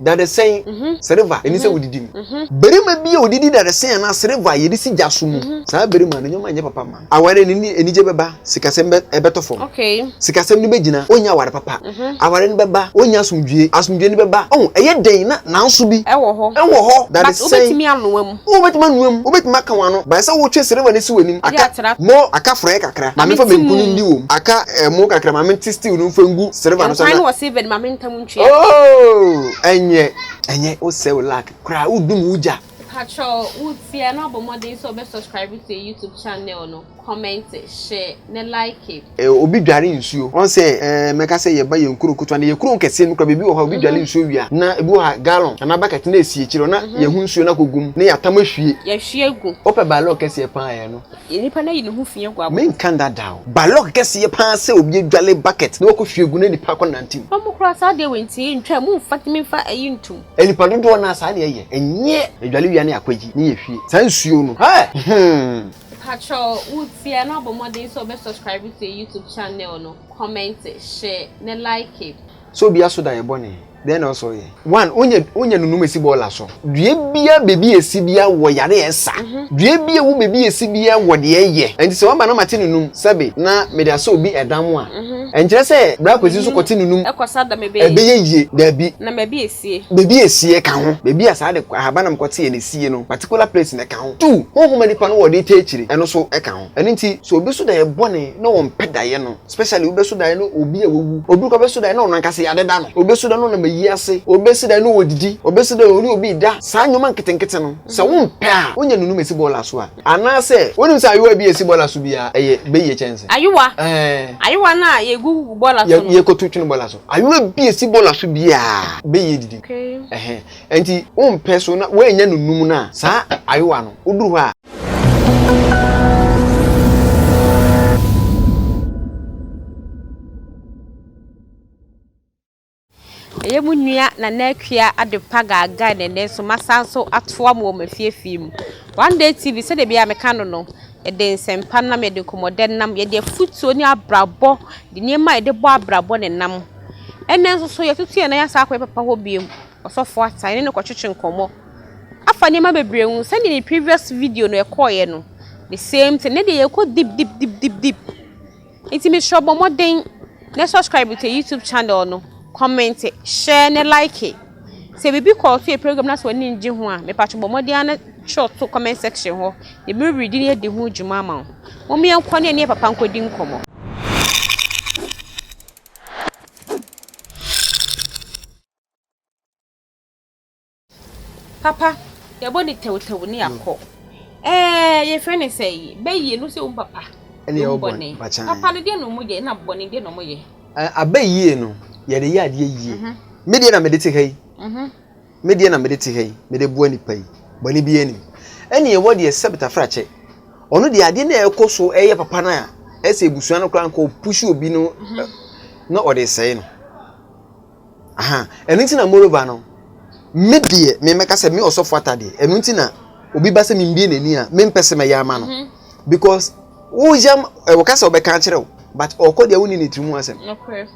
Dadesɛn, sereva, ɛni sɛ wodidi mu. Barima bi a ɔdidi dadesɛn anaa sereva a yɛde si gya so mu, saa barima no nneɛma nyɛ papa mma no. Aware no ne anigye bɛba, sikasɛm bɛtɔ fam. Sikasɛm no bɛgyina, ɔrennya aware papa. Aware no bɛba, ɔrennya asomdwoeɛ. Asomdwoeɛ no bɛba, oh, ɛyɛ den na nanso bi. Ɛwɔ hɔ. Ɛwɔ hɔ, dadesɛn. But wobɛtumi anoa mu. Wobɛtumi anua mu, wobɛtumi aka wɔn ano, but ɛsɛ sɛ wotwe srɛma no si wɔn anim. Aka mo, aka frɔɛ kakra, ma memfa banku no ndi wom. Aka ɛmo kakra, ma mete stew no mfa ngu srɛma no so na. Nkwan wɔ silver mu, ma menta mu ntwea. Oh! Ɛnyɛ, ɛnyɛ, wosɛe wo luck koraa, wodum wo gya. Patrɔ, wo tiaa no abɔ mmɔden sɛ wobɛ subscribe to yɛ YouTube channel no. Kɔmɛnte, hye ne like. Eh obi dware nsuo ɔn sɛ eh mɛka sɛ yɛba yɛn kuro ketewa no yɛ kuro nkɛseɛ no kura baabi wɔ hɔ a obi dware nsuo wie a na ebi wɔ hɔ a gallon anaa bucket na ɛsi akyire hɔ na yɛhu nsuo no akɔ gu mu na yɛatam ahwie. Yɛhwie gu. Wopɛ balɔg kɛseɛ paa yɛ no. Nipa no ayi ne ho fi agu abɔnten. Menka nda da o. Balɔg kɛseɛ paa sɛ obi adware bucket na wakɔ hwie gu na nipa akɔ nante mu. Ɔmo koraa saa deɛ wɔ nti yɛntwa mu mfa tumi mfa ayi ntom. Nipa dodoɔ no ara saa na yɛyɛ ɛnyɛ yɛdware wie a na yɛakɔ ayi na yɛhwie saa nsuo no eh hmm. Pakyɛw wo tsia na bɔ mbɔden sɛ ɔbɛ subscribe to yɛ YouTube channel no, comment, share, na like. Sɛ obi aso da yɛ bɔne, dɛn na ɔsɛ ɔyɛ? One, Onya onya no numa si bɔɔla so. Dua biaa bebi a esi biaa wɔ yare a ɛsa. Dua biaa wo bebi a esi biaa wɔ deɛ ɛyɛ. Ɛnti sɛ waba na mate no num sɛbe na mede asɔ obi ɛdam a, ɛnkyerɛ sɛ bra Kwesi nso kɔte no num ɛbɛyɛ yie. Daabi. sie. Baabi a esie ka ho, baabi a saa de ahaban nam kɔte yɛ ne sie no, particular place no ɛka ho. Two, honhom a nipa no wɔ de tɛ akyire, ɛno nso ɛka ho. Ɛno nti, sɛ obi so daeɛ bɔne na ɔmpɛ daeɛ no, especially wobɛso daeɛ na obi a wawu, obi koraa bɛso daeɛ na ɔno ankasa yɛadeda no, obi bɛso daeɛ na ɔnam ayi ase, obi bɛso daeɛ na ɔredidi, obi bɛso daeɛ na ɔne obi reda, saa nneɛma nketenkete no, sɛ wompɛ a, wonya nnunom a ɛsi bɔɔla so a. Anaasɛ wonim sɛ ayowa bi a esi bɔla so biara yɛ bɛyie kyɛnse? Ayowa. Ɛɛ. Ayowa no a yɛgugu bɔla so no. Yɛkɔto twene bɔla so. Ayowa bi a esi bɔla so biara bɛyie didi. Okay. Ɛhɛ. Ɛnti wompɛ so na woannya no nnum no a, saa ayowa no, woduru hɔ a. Ɛyɛ mo nua Nana Akua Adepa Gaagaa na ɛnnɛ nso masan nso atoa mo wɔ m'afiefie mu. One Day TV sɛdeɛ biara meka no no, yɛde nsɛmpa nam, yɛde nkɔmmɔdɛ nam, yɛde afutuo ne abrabɔ, yɛde nneɛma a yɛde bɔ abrabɔ na ɛnam. Ɛnnɛ nso so yɛatutu yɛn nan asan akɔ yɛn papa hɔ bio, Ɔsɔfo Atta, yɛne no kɔtwetwe nkɔmmɔ afa nneɛma bebree ho. Sɛdeɛ ne previous video no ɛkɔeɛ no, the same thing, ɛnnɛ deɛ yɛrekɔ deep deep deep deep deep. Nti mesrɛ bɔ mmɔden ne subscribe to YouTube channel no, comment, share ne like. Sɛ biribi kɔɔ so yɛ program na sɛ w'ani ngye ho a, mepatwo bɔ mmɔden ara na twerɛ to comment section hɔ na me rereadi ne adi ho dwuma ama wo. Mom yɛnkɔ ne ɛneɛ papa nkɔdi nkɔmmɔ. Papa, yɛbɔ no tɛwtɛw ne akɔ. Ɛɛ, yɛfrɛ no sɛn yi? Bayie, no sɛ wo papa. Ɛne yɛ wo bɔne. Papa no, deɛ na wɔyɛ? Ɛna bɔne, deɛ na wɔyɛ? Abayie no, yɛde yɛ adeɛ yie. Me deɛ na mede te ha yi. Me deɛ na mede te ha yi, mede boa nnipa yi. Bɔne biara nni mu. Ɛne yɛwɔ deɛ sɛ Betafrakyɛ. Ɔno deɛ adeɛ no a ɛkɔ so yɛ papa no a, ɛsɛ abusua no koraa nka ɔpushi obi no na ɔde sɛe no. Aha, ɛno nti na moreover no, me deɛ, me mɛka sɛ me ɔsɔfo atadeɛ, ɛno nti na obi ba sɛ membie n'ani a, mempɛ sɛ mɛyɛ ama no. Mhm. Because woyam, eh, wɔka sɛ wɔbɛka akyerɛ wo, but ɔkɔ deɛ wonni ne tiri mu asɛm. Nokorɛ.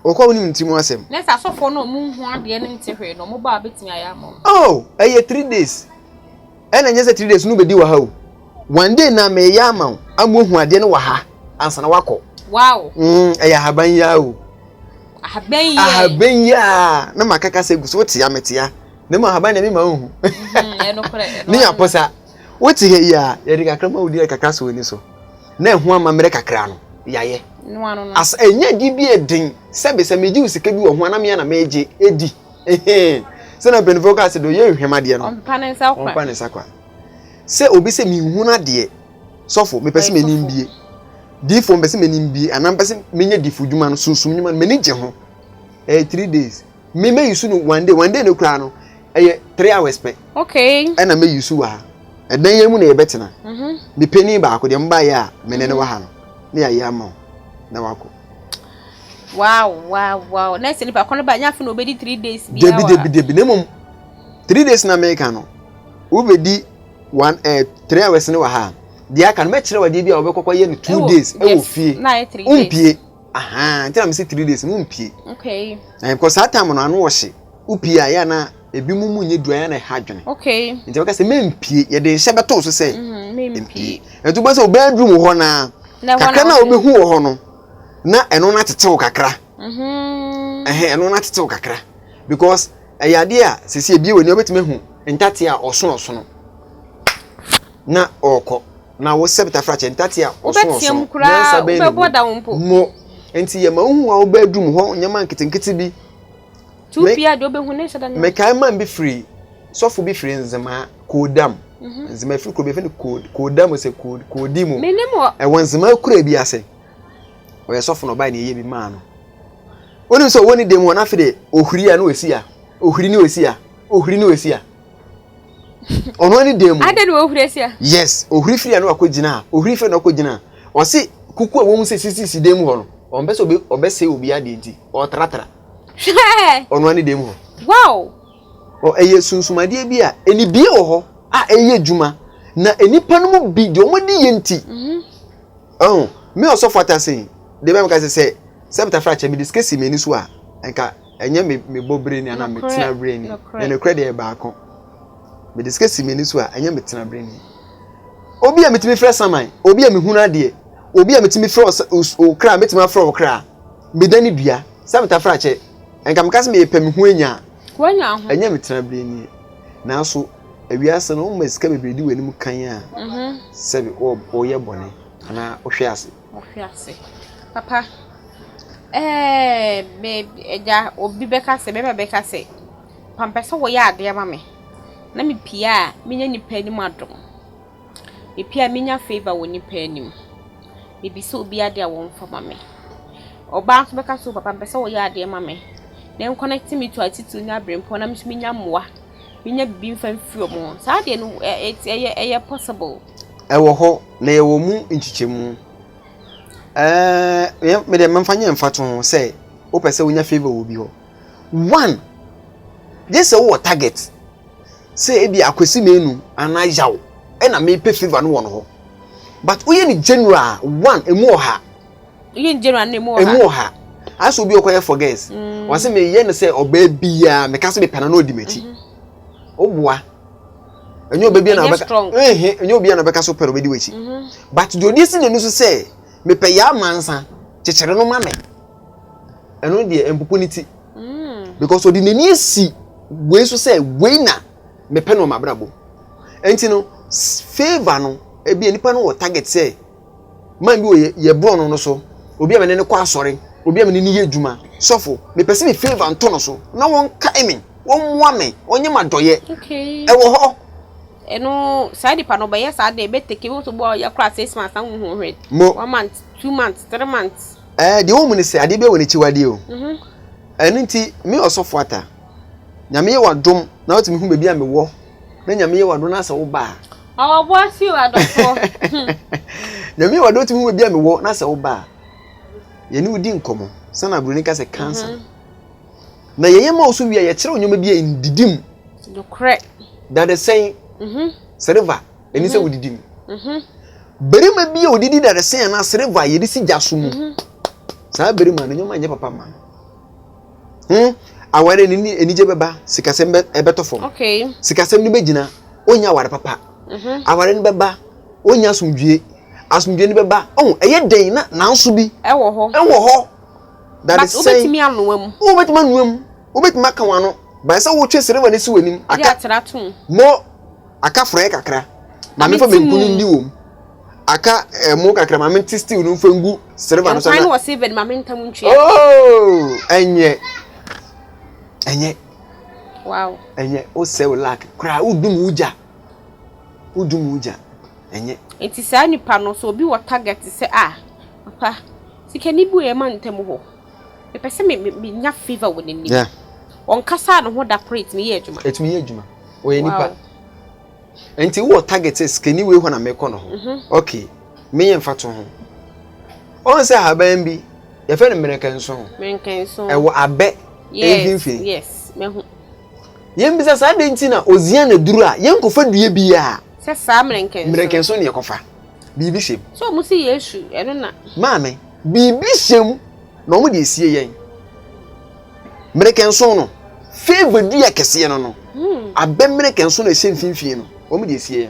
Ɔkɔ a wonim ne tiri mu asɛm. Na sɛ asɔfoɔ no a wɔnhu adeɛ no nte hwee no, wɔba a wobɛtumi ayɛ ama wɔn. Oh, ɛyɛ three days. Ɛna ɛnyɛ sɛ three days no bɛdi wɔ ha o, one day na meyɛ ama wo ama woahu adeɛ no wɔ ha ansa na woakɔ. Wow. Mm, ɛyɛ ahaban yi ara o. Ahaban yi ara. Ahaban yi ara na maka kasa gu so wote a mete a na mu ahaban na mema wohu. Mhm, ɛno korɛ. Ne yɛ aposa wote ha yi a yɛde kakra ma wo di kakra so w'ani so na ɛho amammerɛ kakra no yɛayɛ as ɛnyɛ adi bi ɛden sɛbe sɛ megye wo sika bi wɔ ho anam yɛ na megye ɛdi sɛ na mpanyinfoɔ kaa sɛ deɛ ɔyɛ nhwɛm adeɛ no ɔmpa ne nsa kwa ɔmpa ne nsa kwa sɛ obi sɛ mehunu adeɛ sɔfo mepɛ sɛ m'ani mbie diifoɔ mepɛ sɛ m'ani mbie anaa mepɛ sɛ menyɛ diifo dwuma no sunsum dwuma no m'ani gye ho ɛyɛ eh, three days me mɛ yusu no one day one day no koraa no ɛyɛ eh, three hours pɛ okay ɛna mɛ yusu wɔ ha ɛdan yɛn mu na yɛbɛtena mhm. mepɛ ni baako deɛ mba yɛ a mene ne mhm. wɔ ha no ne yɛayɛ ama wo na wakɔ Wow, wow, wow. Na sɛ nipa kɔnɔ ba nya fi na obedi three days bi awa. Debi debi debi na mmom three days na meka no wobedi one eh, three hours ne wɔ ha. Deɛ aka no mɛkyerɛ wadeɛ bi a wɔbɛkɔkɔ yɛ no two days ɛwɔ fie. Na ayɛ three days. Wompie. Aha, nti na mesi three days no wompie. Okay. Na because saa time no ano wɔhye. Wopie a yɛ na ebi mu mu nyɛ dua yɛ na ɛha adwene. Okay. Nti wɔka sɛ mempie yɛde nhyɛ bɛtoo so sɛ. Mhm, mempie. Ɛtu bɛ sɛ obɛn drum hɔ naa. Kakra na obehu wɔ hɔ no. na ɛno no atetew kakra mhm. ɛhɛn ɛno no atetew kakra because ɛyɛ adeɛ a sisi ebie wɔ ni ɔbɛtumi ehu ntate a ɔsono ɔsono na ɔɔkɔ na wosɛ betafrakyɛ ntate a ɔsono ɔsono nansa bɛyɛ ne mu mo nti yɛ ma ohun a ɔbɛdum hɔ nneɛma nketenkete bi. Tu Me- biaa deɛ ɔbɛhu ne nhyɛ da ne ho. Mekae man bi firi, sɔfo bi firi Nzema, Koodam. Nzema firi kuro bi yɛfrɛ no Kood, Koodam sɛ Kood, Koodi mu. Menim wɔ. Ɛwɔ Nzema kura bi ase. Ɔyɛ sɔfo na ɔbae na yɛyɛ bi maa no. Wonim sɛ ɔwɔ ne dam hɔ na afei de ohuri a na ɔsi a, ohuri ne ɔsi a, ohuri ne ɔsi a. Ɔno ara ne dam mu. Adɛn na wɔhuri asi a? Yes, ohuri firi a na wakɔgyina a, ohuri firi a na wakɔgyina a. Ɔse kuku a wɔhu sɛ sisisi dam hɔ no, ɔmpɛ sɛ ɔbɛ, ɔbɛsɛe obi adeɛ nti, ɔtratra. Hwɛ! Ɔnoa ne dɛm hɔ. Wow! Ɔ ɛyɛ sunsumadeɛ bi a anibie wɔ hɔ a ɛyɛ adwuma na nnipa no mu bi deɛ wɔn adi yɛ nti. Ɔho me ɔsɔfo atasen deɛ bɛn meka sɛ sɛ sɛ metafra kyɛ mede sika si m'ani so a nka ɛnyɛ me me bɔ bere ni anaa me tena bere ni na nokorɛ deɛ baako mede sika si m'ani so a ɛnyɛ me tena bere ni obi a metumi frɛ saman obi a mehunu adeɛ obi a metumi frɛ ɔkra metumi afrɛ ɔkra. Meda ne dua sɛ metafra kyɛ. Nka meka sɛ meyɛ pɛ me ho anya a. Wanya ho. Ɛnyɛ me tenabere nie. Nanso ewiase no woma sika bebree di w'anim kan a sɛ woyɛ bɔne anaa wohwe ase. Wohwe ase. Papa ɛɛ me agya obi bɛka sɛ bɛma bɛka sɛ pampɛ sɛ wɔyɛ adeɛ ma me na mepie a menya nipa anim adom. Ebi a menya favour wɔ nnipa anim. Mebisa obi adeɛ a wɔmfa ma me. Ɔbaa nso bɛka sɛ o papa mepɛ sɛ woyɛ adeɛ ma me. Ne nkɔnɛte me to atitire ne aberempɔn na me nso menya mmoa, menya biribi mfa mfiri wɔn hɔ. Saa adeɛ no ɛ ɛ ɛte ɛyɛ ɛyɛ possible? Ɛwɔ hɔ, na yɛwɔ mu nkyekyɛmu. Ɛɛ me deɛ memfa nyɛ mfatoho ho sɛ wopɛ sɛ wonya favour wɔ obi hɔ. One, gye sɛ wowɔ target. sɛ ebi a Kwesi Menu anaa Yaw na mepɛ favour no wɔ no hɔ but woyɛ ne general one emu ɔha woyɛ ne general no emu ɔha emu ɔha ayɛ sɛ obi ɔkɔyɛ for girls mm. wɔsɛ meyɛ no sɛ ɔbaa biara meka sɛ mepɛ no na ɔdi m'akyi mhm. woboa ɛnyɛ ɔbɛ bi na ɔbɛka ɛhɛ ɛnyɛ obi na ɔbɛka so pɛ na ɔbɛdi w'akyi mhm. but deɛ ɔde si n'ani so sɛ mepɛ yaa mansa kyekyere no ma me ɛno deɛ mpopo ne ti mm. because ɔde n'ani asi wei so sɛ wei na mepɛ no ɔma abrabɔ nti no favour no ebi nipa no wɔ target sɛ man bi wɔ yɛ borɔ no no so obi a mene ne kɔ asɔre obi a mene ne yɛ adwuma sɔfo mepɛ sɛ me favour nto no so na wɔn kae me wɔn mmoa me wɔn nyɛ ma dɔyɛ ɛwɔ hɔ ɛno saa nipa no ɔbɛyɛ saa deɛ ɛbɛteke wo nso bɔ ɔyɛ kora six months na wohu hwɛ one month two months three months ɛɛ deɛ wɔn mu ne sɛ adeɛ bi wɔ n'akyiwadeɛ o mhm. ɛno nti me ɔsɔfo ata nyame yɛ wadom na wotumi hu baabi a mewɔ na nyame yɛ wadom na asɛ wo baa ɔwɔboa si wo adɔfoɔ nyame yɛ wadom tumi hu baabi a mewɔ na asɛ wo baa yɛne wodi nkɔmmɔ sɛna aburoni ka sɛ kansa mhm. na yɛyɛ ma wo so wie a yɛkyerɛ wo nneɛma bi a ndidi mu dadesɛn mhm. sɛreva Ɛni sɛ mhm. wodidi mu. Mhm. Barima bi a odidi dadesɛn anaa sereva a yɛde si gya so mu. Mhm. Saa barima no nneɛma nyɛ papa ma no. Hmm? Aware no anigye bɛba, sikasɛm bɛtɔ fam. Sikasɛm no bɛgyina, ɔnya aware papa. Aware no bɛba, ɔnya asomdwie. Asomdwie no bɛba, ɔn ɛyɛ dɛn na nanso bi. Ɛwɔ hɔ. Ɛwɔ hɔ. Dadesɛn. But wobɛtumi anoa mu. Wobɛtumi anoa mu. Wobɛtumi aka wɔn ano. Bae sɛ wotwe sereva no si w'anim. Aka. More Aka frɔɛ kakra ma memfa banku no ndi wom. Aka ɛmo kakra ma mente stew no mfa ngu silver no so. Nkwan no wɔ silver no ma menta mu ntwea. Oh, ɛnyɛ. Ɛnyɛ. Wow. Ɛnyɛ. O sɛ o lack kra o dum o ja. O dum o ja. Ɛnyɛ. Enti saa nipa no so obi wɔ target sɛ a ah, papa sika ni bu ɛma ntem hɔ. Mepɛ sɛ me me nya favor wɔ n'anim. Yeah. Ɔnkasa ne ho da koro etumi yɛ adwuma. Etumi yɛ adwuma. ɔyɛ nipa nti wowɔ target sɛ sikani wei hɔ na mekɔ no ho mhm. ok meyɛ mfa to ho ɔn sɛ ahaban bi yɛfɛ no mmerekanso ɛwɔ abɛ mfimfini yɛmbisa saa de nti na ɔzia na duru a yɛnkɔfa dua biaa sɛ saa mmerekanso ne yɛkɔfa biribi hyɛm sɛ ɔmo sɛ yesu ɛno na maame biribi hyɛm na ɔmo de esie yɛn mmerɛkɛ nson no feiva dua kɛseɛ no no abɛ mmerɛkɛ nson no ɛhyɛ mfimfini no wɔn deɛ sie yɛ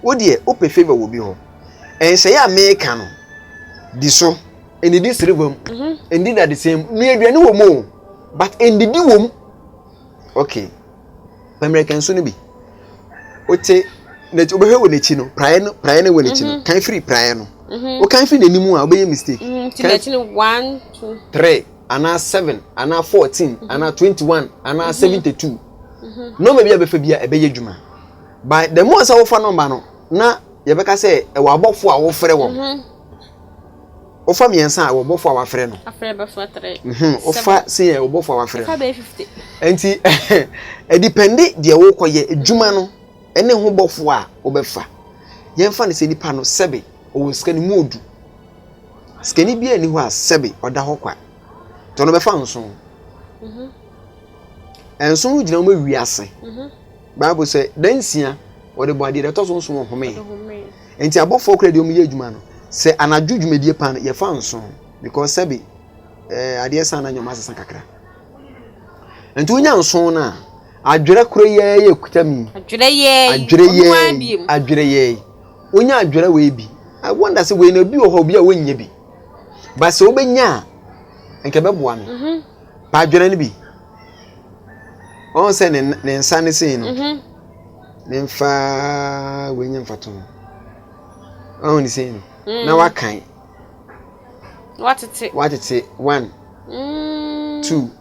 wo deɛ wopɛ feiva wɔ bi hɔ ɛnhyɛeɛ a meka no di so ɛnidi siriva mu ɛnidi mhm. dadesɛn mu nua aduane wɔ mu o but ɛndidi wɔ mu okay pɛ mmerɛkɛ nson no bi wote n'akyi wobɛhwɛ wɔ n'akyi no praeɛ no praeɛ no wɔ n'akyi no mhm. kan firi praeɛ no mhm. wokan firi n'anim a wobɛyɛ mistake kan firi one two three anaa seven anaa fourteen mm -hmm. anaa twenty one anaa mm -hmm. seventy two nɔɔma bi a bɛfa bi a ɛbɛyɛ adwuma by the more sɛ wofa nɔɔma no na yɛbɛka sɛ ɛwɔ abɔfo a wofrɛ wɔn mhm. wofa mmiɛnsa a ɛwɔ bɔfo a wafrɛ no mhm. wofa se yɛ ɔbɔfo a wafrɛ no nti ɛdipɛnde deɛ wokɔyɛ adwuma no ɛne ho bɔfo a wobɛfa yɛmfa no sɛ nipa no sɛbe ɔwɔ sika no mu odu Sikani biara nni hɔ a sɛbe ɔda hɔ kwa. Nti ɔno bɛfa nson. Mm-hmm. Nson no gyina wɔn awi ase. Mm-hmm. Bible sɛ da nsia wɔde bɔ adeɛ da ɛtɔ so nson ɔhome. Nti abɔfoɔ kora deɛ wɔn yɛ adwuma no sɛ anadwo dwumadie paa no yɛfa nson because sɛbe ɛɛ adeɛ san na nyɔma asesa kakra. Nti wonya nson no a adwerɛ koro yɛɛ yɛ kuta mi. Adwerɛ yɛɛ adwerɛ yɛɛ adwerɛ yɛɛ Wonya adwera wei bi I wonder sɛ wei no obi wɔ hɔ obi a wonnya bi but sɛ wobɛnya a nka ɛbɛboa no mhm. pa adwera no bi ɔn sɛ ne nsa ne sei no mhm. ne mfa wei nyɛ mfato no ɔn ne sei no na mm. wakan watete watete one mm. two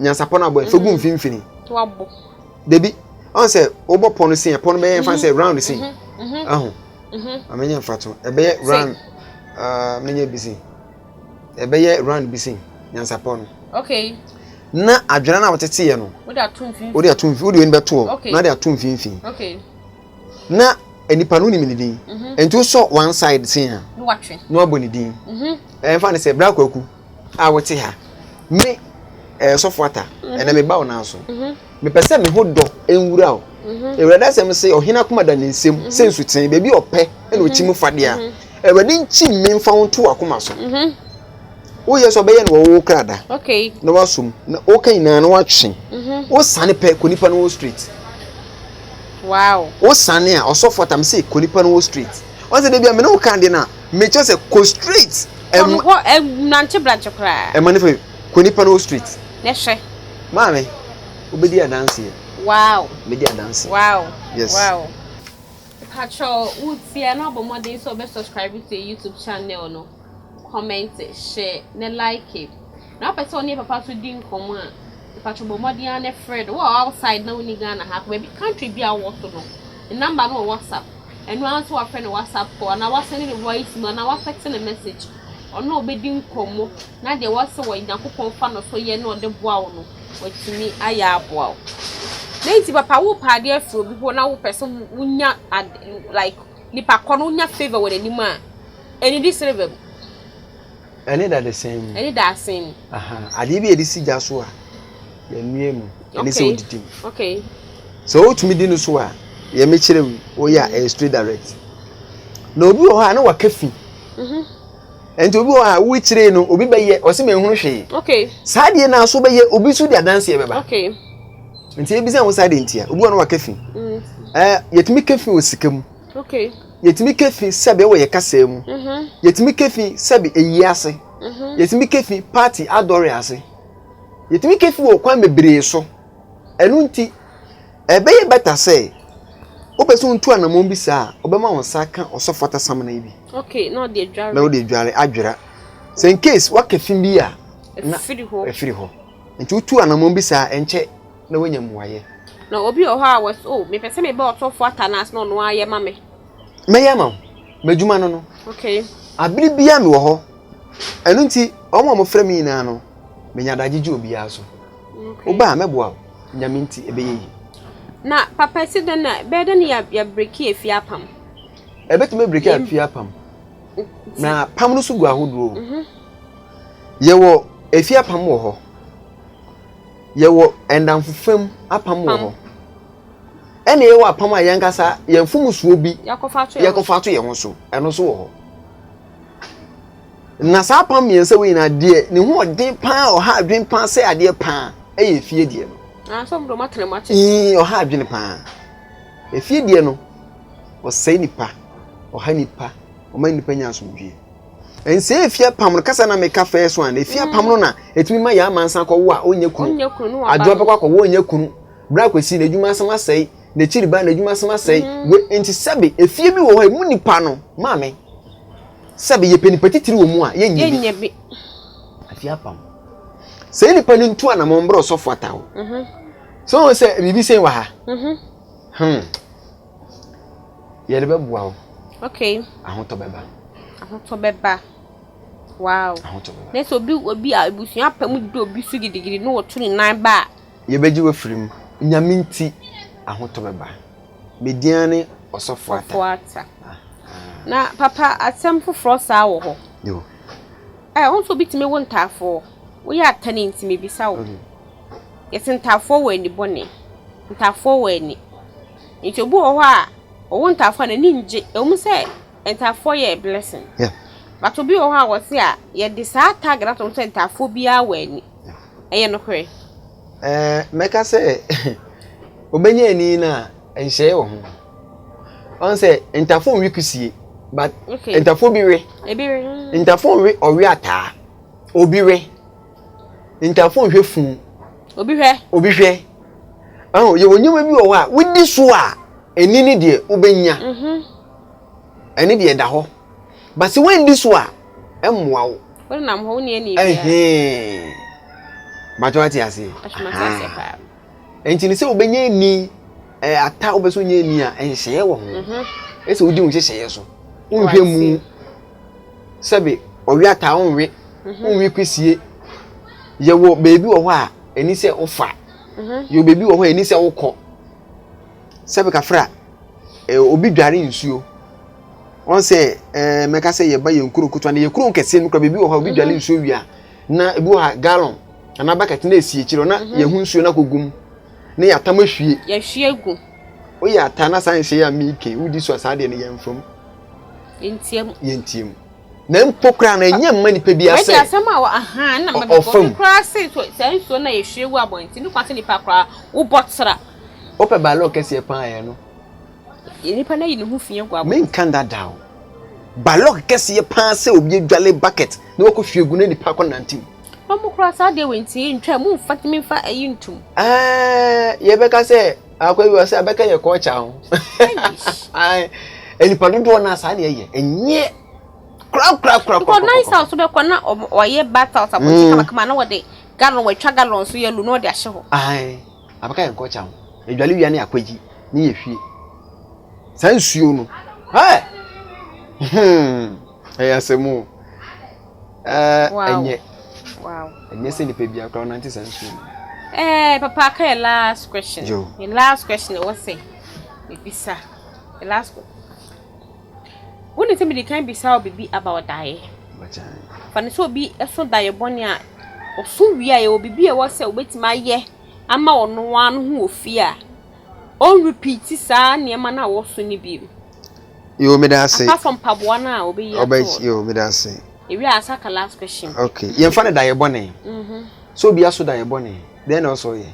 nyansapɔ no abɔ ɛfɛ gu mm. mfimfini dabi ɔn sɛ wobɔ pɔ no sin ɛpɔ no bɛyɛ mfa sɛ mm-hmm. round sin mm-hmm. aho mm-hmm. amenyɛ mfa to ɛbɛyɛ round ah, menyɛ bi sin ɛbɛyɛ round bi sin nyansapɔ no na adwene no a woteteɛ no wode ato mfimfini wode ato mfimfini wode wei no bɛtoɔ na wode ato mfimfini na nipa no nim ne din mhm. nti wosɔ one side sin a na wabɔ ne din mhm. ɛmfa ne sɛ bra kwaku a wote ha, me eh, sɔfo ata, mhm. ɛnɛ meba wo nan so. Mhm. Mepɛ sɛ me ho dɔ nwura o. Mhm. Awurade asɛm sɛ ɔhene akoma da ne nsam sɛ nsuten, baabi ɔpɛ ɛna ɔkyi mu fadeɛ a. Awurade nkyi me mfa wo nto akoma so. Woyɛ sɛ ɔbɛyɛ no wɔwɔ krada na wasum na woka nyinaa na watwe. Wosane pɛ kɔ nipa no wɔ street. Wosane a ɔsɔfo atam sɛ kɔ nipa no wɔ street. Wɔn sɛ dabi a me ne wo ka adeɛ no a mekyɛ sɛ kɔ street. Kɔ no hɔ nante brankye koraa. Ɛma ne fɛ kɔ nipa no street. Ne hwɛ. Maame, wobɛdi adanseɛ. Wow. Mɛdi adanseɛ. Wow. Yes. Wow. Patro, wotia na ɔbɔ mmɔden sɛ ɔbɛ subscribe to YouTube channel no. Comment, share, ne like. Na wopɛ sɛ ɔne papa so di nkɔmmɔ a, patro bɔ mmɔden a ne frɛ no. Wɔ outside na woni Ghana ha, baabi country bi a wowɔ so no, ne number no wɔ WhatsApp. Ɛno ara nso wafrɛ ne WhatsApp call anaa wasɛnde ne voice mu anaa watɛkse ne message. Ɔne wo bɛdi nkɔmmɔ na deɛ wɔse wɔ Nyankopɔn fa no so yɛ na ɔde boa wo no, watumi ayɛ aboa wo. Dɛn nti papa wopɛ adeɛ afiri obi hɔ na wopɛ sɛ wonya ad like nipa kɔ no wonya favour wɔ n'anim a, ɛnnidi silver mu. Ɛne dadesɛn mu. Ɛne dadesɛn mu. Aha, adeɛ bi a yɛde si gya so a yɛnoa mu. Ɛne sɛ wodidi mu. Okay. Sɛ wotumi di no so a, yɛ mekyerɛ wi, woyɛ a ɛyɛ straight direct. Na obi wɔ hɔ a na waka fi. Mhm. Ɛnti obi wɔ hɔ a wokyerɛ no obi bɛyɛ ɔsɛ mɛ nhunu hwee. Okay. Saa deɛ na so bɛyɛ obi so di adanseɛ bɛba. Okay. Nti ebi sɛ ho saa deɛ ntia obi wɔ no waka fi. Mm. Ɛɛ yɛtumi ka fi wɔ sika mu. Okay. Yɛtumi ka fi sɛbe wɔ yɛ kasaa mu. Yɛtumi ka fi sɛbe ayie ase. Yɛtumi ka fi paati adɔre ase. Yɛtumi ka fi wɔ kwan bebree so. Ɛno nti, ɛbɛyɛ bɛta sɛ wopɛ sɛ wontu anamɔn bi saa a, ɔbɛma wo nsa aka ɔsɔfo atasamena yi bi. Okay, na ɔde adware. Na ɔde adware adwera. Sɛ in case waka fi bi a, na ɛfiri hɔ. Nti wotu anamɔn bi saa ɛnkyɛ. na wanya mmuaeɛ. Na obi wɔ hɔ a wɔse, Oh, mepɛ sɛ mebɛ ɔtɔfoɔ Atanas na ɔno ara yɛ ma me. Mɛyɛ ama wo. M'adwuma no no. Okay. Abere biara mewɔ hɔ. Ɛno nti, wɔn a wɔfrɛ me nyinaa no, menya adagye gye obiara so. Okay. Woba a, mɛboa wo. Nyame nti, ɛbɛyɛ yie. Na papa ɛsi dɛn na, ɛbɛyɛ dɛn na yɛabreki afie apam? Ɛbɛtumi abreki afie apam. Na apam no nso gu ahodoɔ o. Yɛwɔ afie apam wɔ hɔ. Yɛwɔ nnamfofa mu apam wɔ hɔ, ɛnna yɛwɔ apam a yɛn ankasa yɛn mfomsoɔ bi yɛkɔfa to yɛn ho so, ɛno nso wɔ hɔ. Na saa apam mmiɛnsa wei nyinaa deɛ ne ho ɔden paa ɔha adwene paa sɛ adeɛ paa ɛyɛ efie deɛ no. Ii ɔha adwene paa. Efie deɛ no ɔsɛe nipa, ɔha nipa, ɔma nipa nya asomdwie. Ɛnsɛ efie apam no kasa na meka first one efie mm. apam no na etumi ma yɛn amansa akɔwo a ɔnyɛ kunu adwo bɛkɔ akɔwo ɔnyɛ kunu bra kwesi na edwuma asɛm asɛe na ekyiri ba na edwuma asɛm asɛe mm. we nti sɛbi efie bi wɔ hɔ emu nipa no maame sɛbi yɛ pɛ nipa titiri wɔ mu a yɛ nyɛ bi efie apam sɛ nipa no ntu anamɔ mbrɛ ɔsɔfo ataw mhm. so wɔn sɛ biribi sɛn wɔ ha mhm. hmm. Yɛde bɛboa wo. Okay. Ahotɔ bɛba. Ahotɔ bɛba. Wow. Ahotɔ bɛba. Na sɛ obi obi a ebusua apɛ mu di obi so gidigidi na wɔto ne nan ba a. Yɛbɛgye wafiri mu. Nyame nti ahotɔ bɛba. Median ne ɔsɔfo ata. Ɔsɔfo ata. Na papa asɛm foforɔ saa wɔ hɔ. Yo. Ɛ wɔn nso obi tumi wo ntaafoɔ. Woyɛ ata ne nti mebisa wo. Yɛse ntaafoɔ wɔ ani bɔne, ntaafoɔ wɔ ani. Nti obi wɔ hɔ a ɔwɔ ntaafoɔ a n'ani ngye. Ɛwɔ mu sɛ ntaafoɔ yɛ a blessing but obi wɔ hɔ a wɔse a yɛde saa tag no ato no sɛ ntaafoɔ biaa wɔ ani. Ɛyɛ nokorɛ? Ɛɛ mɛka sɛ obɛnya ani no a nhyɛɛ wɔ ho. Ɔn sɛ ntaafoɔ nwe kusie but ntaafoɔ bi we. Ntaafoɔ nwe ɔwe ataa. Obi we. Ntamfoɔ nhwɛ fu. Obi hwɛ. Obi hwɛ. Ɔho, yɛwɔ nneɛma bi wɔ hɔ a, wodi so a, ɛni ne deɛ wobɛnya. Mhm. Ɛne deɛ ɛda hɔ. Ba sɛ woandi so a, ɛmmoa wo. Wonam hɔ, wonni ani biara. Ɛhee. Bàtɔ ate ase. Ahyɛmase ase paa. Ɛnti ne sɛ wobɛnya ani, ɛ, ata wobɛ sɛ wonya ani a, ɛnhyɛeɛ wɔ ho. Mhm. Ɛsɛ wodi wo nhyehyɛeɛ so. Wonhwɛ mu. sɛbe ɔwea taa wo nwe, mhm. wo nwe kwisie. Yɛwɔ baabi wɔ hɔ a ɛni sɛ wofa, mhm. yɛwɔ baabi wɔ hɔ a ɛni sɛ wokɔ. Sɛbe kafra, eh, obi dware nsuo. Wɔn sɛ eh, mɛka sɛ yɛba yɛn kuro nkotoa na yɛ kuro nkɛseɛ no kura baabi wɔ hɔ a obi dware mhm. nsuo wia na ebi wɔ ha gallon anaa bucket na esi akyire na yɛn ho nsuo na kɔ gum ne yɛ atam ahwie. Yɛhwie gu. Woyɛ ata na saa nhyɛ yɛ a miike wodi so a saa deɛ no yɛn fam. Yɛntiam. Yɛntiam. Na mpo koraa no, ɛnyɛ mma nipa bi asɛ. Bɛdi asɛm a wɔ ahaa na ma bɛbɔ bi koraa se so saa nsuo no a yɛhwie gu abɔnten no kwan sɛ nipa koraa wobɔ tra. Wopɛ balɔɔ kɛseɛ paa yɛ no. Nipa no ayi ne ho fi agu abɔnten. Menka nda da o. Balɔk kɛseɛ paa sɛ obi adwale bucket na wakɔ hwie gu na nipa akɔ nante mu. Wɔn koraa saa deɛ wɔntie ntwa mu mfa tumi mfa ayi ntum. Ɛɛ yɛbɛka sɛ. akɔ bi wɔ sɛ abɛka yɛ kɔɔkya ho nnipa dodoɔ no a saa ne ɛyɛ ɛnyɛ korakorakorakɔ nan sa so bɛkɔ na ɔyɛ battle sa bɔnti mm. kamakama na wɔde galon wɔatwa galon so yɛ lu na ɔde ahyɛ hɔ abɛka yɛ nkɔɔkya ho adwale wia ne akwagyi ne yɛ hwie saa nsuo no hmm. ɛyɛ asɛm o ɛnyɛ ɛnyɛ sɛ nipa bi akora ɔnante saa nsuo no ɛɛ papa aka yɛ last question yɛ last question ɛwɔ sɛ ebisa yɛ last question wo ne sɛ mede kan bisa wo bibi about daeɛ fa ne sɛ obi ɛso daeɛ bɔne a ɔso wie a yɛwɔ bibi ɛwɔ sɛ wobɛtumi ayɛ ama ɔno ano ho wɔ fie a ɔnrepeat saa nneɛma no a wɔso no bio Yo meda ase. Apart from mpaboa no a obeyi ato hɔ. Yo meda ase. Ewie a asaka last question. Okay yɛn fa ne da yɛ bɔne. Mhm. So obi aso da yɛ bɔne dɛn na ɔsɔ yɛ.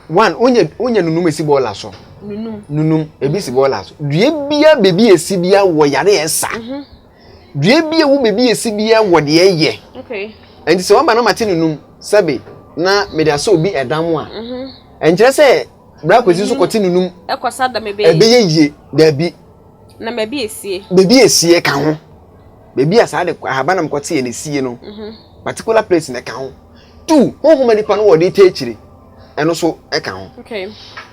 One onye onye nunum esi bɔɔla so. Nunum. Nunum ebi si bɔɔla so. Due bia bebi esi bia wɔ yare ɛsa. Mhm. Due bia wo bebi esi bia wɔ deɛ yɛ. Okay. Ɛnti sɛ waba na ma te nunum sɛbi na mede asɔ obi ɛdam a. Mhm. Ɛnkyerɛ sɛ. Bra kwesi so kɔte ne num. Ɛkɔ sa da me bɛyɛ. Ɛbɛyɛ yie daabi. Na baabi esie. Baabi esie ka ho. Baabi a saa de ahaban nam kɔte yɛ na esie no. Particular place na ɛka ho. Two honhom nipa no wɔ ɔde ta akyire. Ɛno so ɛka ho. Okay.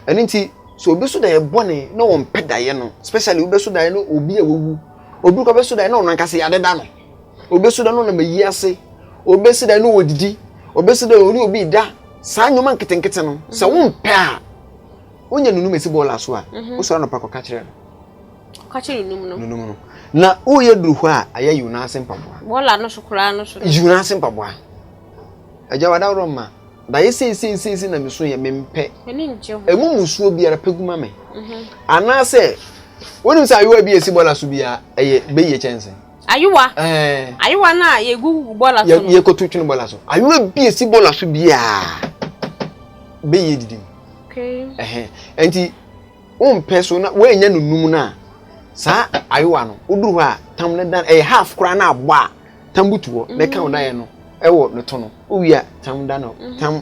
Ɛno nti so obi so da yɛ bɔne na wɔn pɛ da yɛ no especially obi bɛ so da yɛ no obi a wawu obi kɔ bɛ so da yɛ na ɔno ankasa yɛ adeda no. Obesi dɛn na ɔnam ayi ase? Obesi dɛn na odidi? Obesi dɛn na ɔne obi da? Saa nneɛma nketenkete no, sɛ mm. wompɛ a, wonya nunum esi bɔɔl aso a, mhm. wosɔre anɔpa kɔka kyerɛ no. Ka kyerɛ nunum no. Nunum no. Na woyɛ duru hɔ a, ayɛ yiw n'ase mpaboa. Bɔɔla no so koraa no so. Yiw n'ase mpaboa. Agya wadaworo mma. Dayɛ seesei seesei na meso yɛ mempɛ. Ani ngye ho. Emu musuo biara pɛ gu ma me. Mhm. Anaasɛ, wonim sɛ ayewa bi a esi bɔɔla so biara, ɛyɛ bɛyie kyɛnse. Ayowa. Eh. Ayowa na yegu bola so no. Ye ko tutun bola so. Ayowa bi esi bola so bia. Be ye didim. Okay. Eh. Enti wo mpɛ so na woanya no num na saa ayowa no woduru hɔ a tam ne dan ɛyɛ half koraa na abɔ a tam butu hɔ na ɛka wo dan no ɛwɔ ne to no wowie a tam dan no tam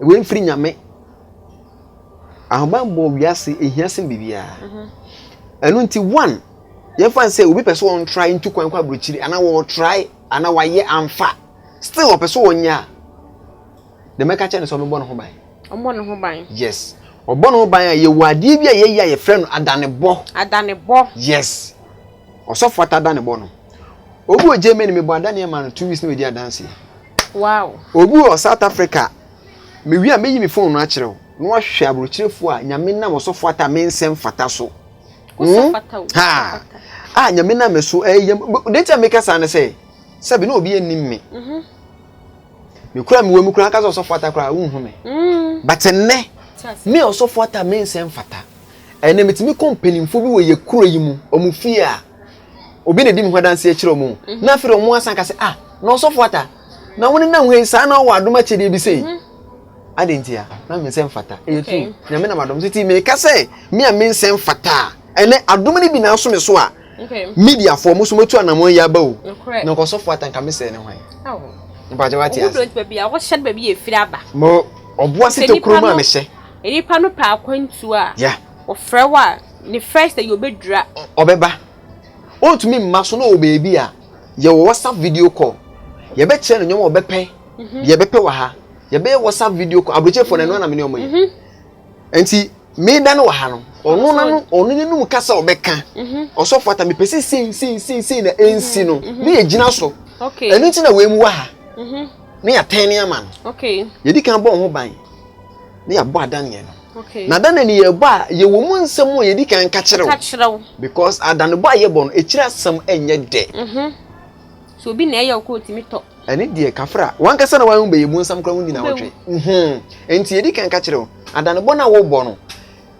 Wei mfiri nyame. Ahobammɔ wiase ehia sen biribiara. Mhm. Ɛno nti one yɛmfa n sɛ obi pɛ sɛ ɔntrae ntu kwan kɔ aburokyiri anaa wɔtrae anaa wayɛ amfa still ɔpɛ sɛ ɔnyɛ a deɛ mɛka kyerɛ no sɛ ɔbɛbɔ ne ho ban. Ɔbɔ ne ho ban. Yes. Ɔbɔ ne ho ban a yɛwɔ adeɛ bi a yɛyɛ a yɛfrɛ no adanebɔ. Adanebɔ. Yes. Ɔsɔfo ata adanebɔ no. Obi wɔ Germany, mebɔ adaneɛ ma no two weeks na wadi adanseɛ. Wow. Obi wɔ South Africa, mewie a mɛyi me phone no akyerɛ wo na wahwɛ aburokyerɛfoɔ a nyame nam ɔsɔfoɔ ata me nsɛm fata so. Mm? Ha. A nyame nam me so ɛyɛ eh, deɛ nti a meka saa ne sɛ sɛbi na obi anim me. Mhm. Mekura mewɔ mu kura anka sɛ ɔsɔfoɔ ata koraa wonhu me. Mm. But nnɛ me ɔsɔfoɔ ata me nsɛm fata. Ɛnɛ metumi kɔ mpanimfoɔ bi wɔ yɛ kuro yi mu, ɔmo fie a obi na edi me ho adanse akyerɛ wɔn mhm. na afei wɔn asan ka sɛ ah na ɔsɔfo ata na wɔn nenam ha yi saa na ɔwɔ adom akyɛdeɛ bi sɛ yi mhm. adi nti a na me nsɛm fata ɛyɛ tu nyame nam adom titi mi ka sɛ mi a me nsɛm fata ɛnɛ adom no bi na aso me so a media fo ɔmo so mo tu anamɔ yi aba o na nkɔsɔfo ata nka me sɛ ne hwan mpakyɛ wa te ase mo ɔboa sɛ te kurom a mehyɛ nipa no pɛ akwantuo a. Wɔfrɛ wo a, ne first ɛyɛ obedwira. Ɔbɛba. Ontumi mma so na ɔwɔ baabi a, yɛwɔ WhatsApp video call. Yɛbɛkyerɛ no nneɛma a ɔbɛpɛ, deɛ ɛbɛpɛ wɔ ha. Yɛbɛyɛ WhatsApp video call. Aburokyefoɔ no, ɛno ara na me ne wɔn yɛ. Nti, me da no wɔ ha no, ɔno na no, ɔno ne num kasa a ɔbɛka. Ɔsɔfo ata, mepɛ sɛ sei, sei, sei, sei na ɛnsi no, na yɛgyina so. Ɛno nti na wɔamu wɔ ha, na yɛatɛn ne ama no. Yɛdi kan bɔ wo ho ban, na yɛabɔ adanneɛ no. Okay. Na da na ni yɛbɔ a yɛwɔ mu nsɛm a yɛdi kan ka kyerɛ wo. Ka kyerɛ wo. Because adanebɔ a yɛbɔ no akyiri asɛm ɛnyɛ dɛ. Mhm. So obi na ɛyɛ okɔ otumi tɔ. Ɛne deɛ kafra wankasa na wɔn bɛyɛ mu nsɛm koraa wɔn nyinaa wɔtwe. Mhm. Nti yɛdi kan ka kyerɛ wo adanebɔ na wɔbɔ no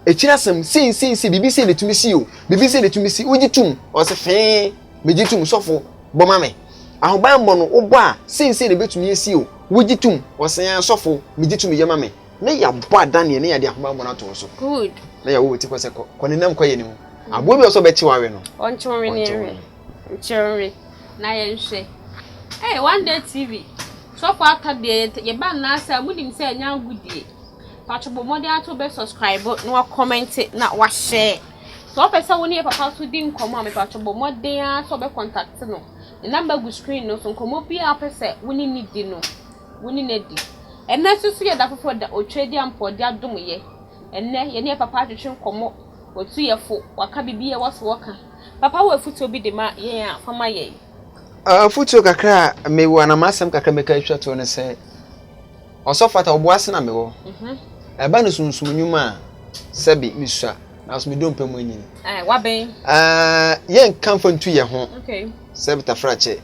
akyiri asɛm sei sei sei bibi sei na etumi si o bibi sei na etumi si wogye tum ɔsɛ fɛn megye tum sɔfo bɔ ma me ahobanbɔ no wobɔ a sei sei na ebetumi esi o wogye tum ɔsɛn asɔfo megye tum yɛ ma me. Ne yɛabɔ adaneɛ ne yɛde ahobammɔ no ato wo so. Good. Na yɛwɔ wo ti kɔ sɛ kɔ kɔ ne nam kɔ yɛ ne mu. Aboa bi wɔ sɛ ɔbɛkye w'awe no. Ɔnkye wo ne nhwɛ. Nkye wo ne na yɛnhwɛ. Hey, one day TV. Sɔfo ata deɛ yɛ yɛ ba nna sɛ mo nim sɛ ɛnyɛ agodie. Patro bɔ mmɔden ato bɛ subscribe na wa comment na wa share. Sɛ ɔpɛ sɛ wo ne yɛ papa so di nkɔmɔ a me patro bɔ mmɔden a sɛ ɔbɛ contact no. Ne number gu screen no so nkɔmɔ bi a ɔpɛ sɛ wo ne ne di no. wo ne no adi. Ɛnnɛ nso so yɛ da foforɔ da otwa di a mpɔɔde adom yɛ. Ɛnnɛ yɛne yɛ papa atwetwe nkɔmmɔ, watu yɛ fo, waka biribi a ɛwɔ so ɔka. Papa wɔ afutuo bi de ma yɛn a fa ma yɛn. Afutuo kakra a mewɔ anaa m'asɛm kakra a mɛka atwa toɔ ne sɛ, Ɔsɔfo Atta ɔboa ase na mewɔ. Ɛba no sunsum nnwuma a, sɛbe mesua nanso me dompe mu anyini. Wabɛn. Yɛnka mfa ntu yɛ ho sɛ btafrakyɛ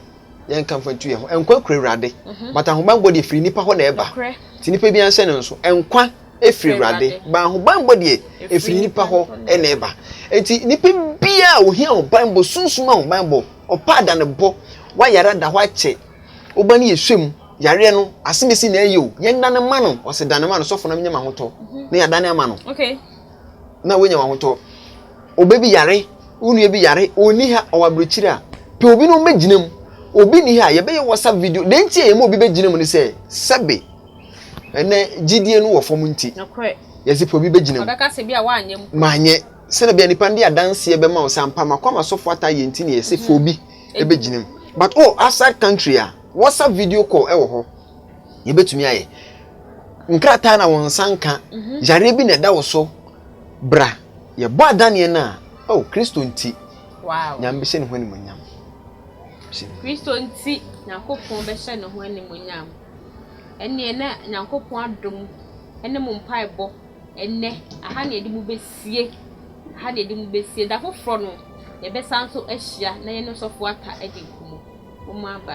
yɛn kamfo ntu yɛn ho nkwa kura awurade mhm. but ahobanbɔ deɛ firi nipa hɔ na ɛba ti nipa bi anhyɛ ne nso nkwa efiri awurade ba ahobanbɔ deɛ efiri nipa hɔ na ɛba nti nipa bi a ohia ahobanbɔ sunsun ahobanbɔ ɔpa adanebɔ wayara da hɔ akyɛ ɔba no yɛ hwɛ mu yareɛ no asemesi na ɛyɛ o yɛn dane ma no ɔsɛ dane ma no sɔfo na menyɛ ma ho tɔ mhm. na yɛadane ama no. Okay. na woanya wɔn ahotɔ. Oba bi yare, wo nua bi yare, ɔnni ha, ɔwɔ aburokyiri a, pɛ obi na ɔmmɛgyina mu. Obi nni ha, yɛbɛyɛ WhatsApp video. Deɛ nti a yɛma obi bɛgyina mu ne sɛ, sɛbe ɛnɛ gyidie no wɔ fam nti, yɛse pɛ obi bɛgyina mu. Ɔbɛka sɛ bi a woanyɛ mpo. Manyɛ. Sɛdeɛ bia nnipa no de adanseɛ bɛma wo sɛ ampa makɔ ama sɔfo ata ayɛ nti na yɛse pɛ obi bɛgyina mu. But wowɔ outside country a, WhatsApp video call wɔ hɔ, yɛbɛtumi ayɛ. nkrataa na wo nsa nka, yareɛ bi na ɛda wo so, bra, yɛbɔ adaneɛ no a, oh, Kristo nti, wow. Nyame bɛhyɛ ne ho animonyam. Kristo nti, Nyankopɔn bɛhyɛ ne ho animonyam. Ɛneɛ na Nyankopɔn adom ɛne mo mpaebɔ ɛnɛ, aha na yɛde mo bɛsie, aha na yɛde mo bɛsie, da foforɔ no, yɛbɛsan so ahyia na yɛne sɔfo ata adi nkumu. Mo aba.